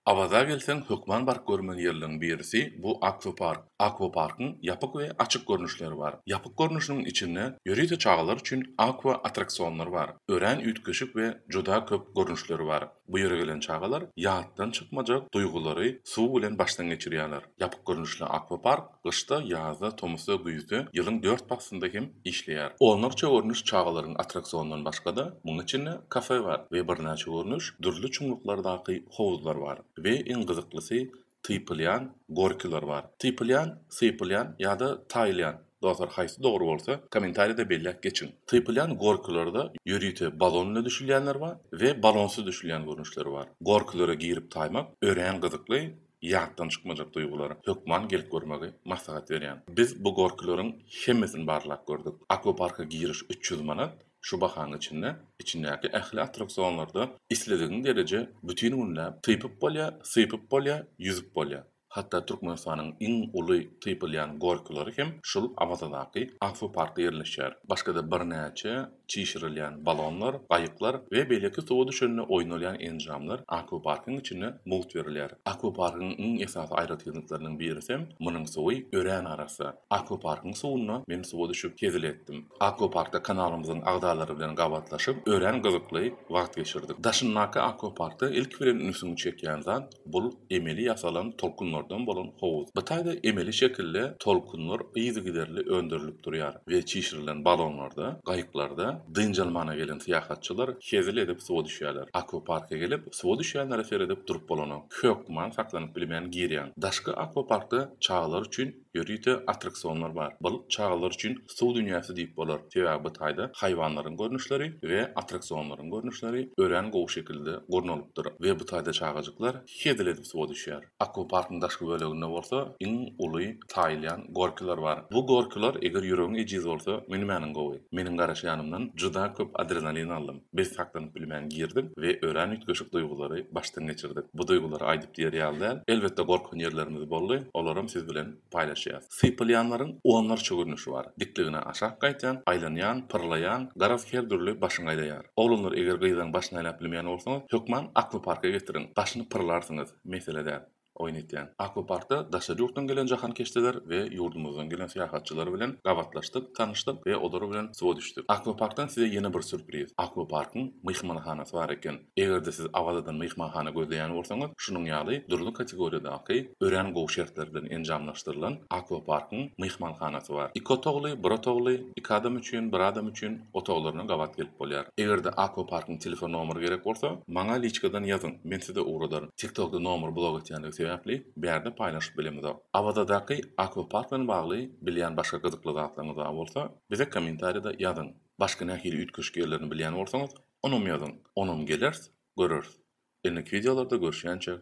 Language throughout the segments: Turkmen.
Awaza gelseň hökman baryp görmeli ýerleriň birisi bu akwapark. Akwaparkyň ýapyk we açyk görnüşleri bar. Ýapyk görnüşiniň içinde ýörite çagalar üçin akwa attraksionlar bar. Örän üýtgeşik we juda köp görnüşleri bar. Bu ýere gelen çagalar ýatdan çykmajak duýgulary suw bilen başdan geçirýärler. Ýapyk görnüşli akwapark. Gyşda, ýazda, tomusda, güýzde, ýylyň dört paslynda hem işleýär. Onlarça görnüş çagalaryň attraksionyndan başga-da, munuň içinde kafe bar we birnäçe görnüş dürli çuňluklardaky howuzlar bar we iň gyzyklysy typylýan gorkiler bar. Typylýan, sypylýan ýa-da taýylýan, dostlar haýsy dogry bolsa, kommentariýada belläp geçiň. Typylýan gorkilerde ýörite balon bilen düşülýänler bar we balonsyz düşülýän görnüşleri bar. Gorkilere girip taýmak örän gyzykly ýatdan çykmajak duýgulara hökman gelip görmegi maslahat berýän. Biz bu gorkularyň hemmesini barlap gördük. Akwaparka giriş üç ýüz manat, şu bahanyň içinde içindäki ähli attraksionlarda isledigiň dereje bütin günläp typyp bolýar, sypyp bolýar, ýüzüp bolýar. Hatda Türkmenistanyň iň uly typylýan gorkulary hem şul Awazadaky akwaparkda ýerleşýär. Başga-da birnäçe çişirilýän balonlar, gaýyklar we beýleki suwa düşende oýnalýan enjamlar akwaparkyň içinde mugt berilýär. Akwaparkyň iň esasy aýratynlyklarynyň birisem munuň suwy örän arassa. Akwaparkyň suwunda men suwa düşüp hezil etdim. Akwaparkda kanalymyzyň agzalary bilen gabatlaşyp, örän gyzykly wagt geçirdik. Daşyndaky akwaparkda ilki bilen ünsüňi çekýän zat, Bul emeli ýasalan tolkunlardan bolan howuz. Bu taýda emeli şekilde tolkunlar yzygiderli öndürilip durýar we çişirilen balonlarda, gaýyklarda dynç almana gelen syýahatçylar hezil edip suwa düşýärler. Akwaparka gelip, suwa düşýänlere seredip durup bolanok. Hökman saklanyp bilmän girýäň. Daşky akwaparkda çagalar üçin Ýörite attraksionlar bar. Balyk çagalar üçin suw dünýäsi diýip bolar, sebäbi bu taýda haýwanlaryň görnüşleri we attraksionlaryň görnüşleri örän gowy şekilde gurnalypdyr we bu taýda çagajyklar hezil edip suwa düşýär. Akwaparkyň daşky böleginde bolsa iň uly taýylýan gorkiler bar. Bu gorkiler eger ýüregiň ejiz bolsa münmäniň gowy. Meniň garaşýanymdan juda köp adrenalin aldym. Biz saklanyp bilmän girdik we örän üýtgeşik duýgulary başdan geçirdik. Bu duýgulary aýdyp diýer ýaly däl. Elbetde gorkan ýerlerimiz boldy, olaram siz bilen paýlaşýas. Sypylýanlaryň onlarça görnüşi bar. Dikligine aşak gaýtýan, aýlanýan, pyrlaýan, garaz her dürli başyň aýlaýar. Oglanlar eger gyzlaň başyny aýlap bilmeýän bolsaňyz, hökman akwaparka getiriň, başyny pyrlarsyňyz, mesele däl. oýun etýän. Akwaparkda daşary ýurtdan gelen jahankeşdeler we ýurdumyzdan gelen syýahatçylar bilen gabatlaşdyk, tanyşdyk we olar bilen suwa düşdük. Akwaparkdan size ýene bir sýurpriz, Akwaparkyň myhmanhanasy bar eken. Eger-de siz abadan myhmanhana gözleýän bolsaňyz, şunuň ýaly dürli kategoriýadaky, örän gowy şertler bilen enjamlaşdyrylan Akwaparkyň myhmanhanasy bar. Iki otagly, bir otagly, iki adam üçin, bir adam üçin, otaglaryna gabat gelip bolýar. Eger-de Akwaparkyň telefon nomeri gerek bolsa, maňa liçkadan ýazyň, men size ugradaryn. TikTokda nomer blok etýändigi sebäpli, bärde paýlaşyp bilemizok. Awazadaky Akwapark bilen bagly bilýän başga gyzykly zatlaryňyz bar bolsa, bize kommentariýada ýazyň. Başga nähili üýtgeşik ýerlerini bilýän bolsaňyz, onam ýazyň. Onam geleris, göreris. Endik wideolarda görüşýänçä,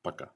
paka!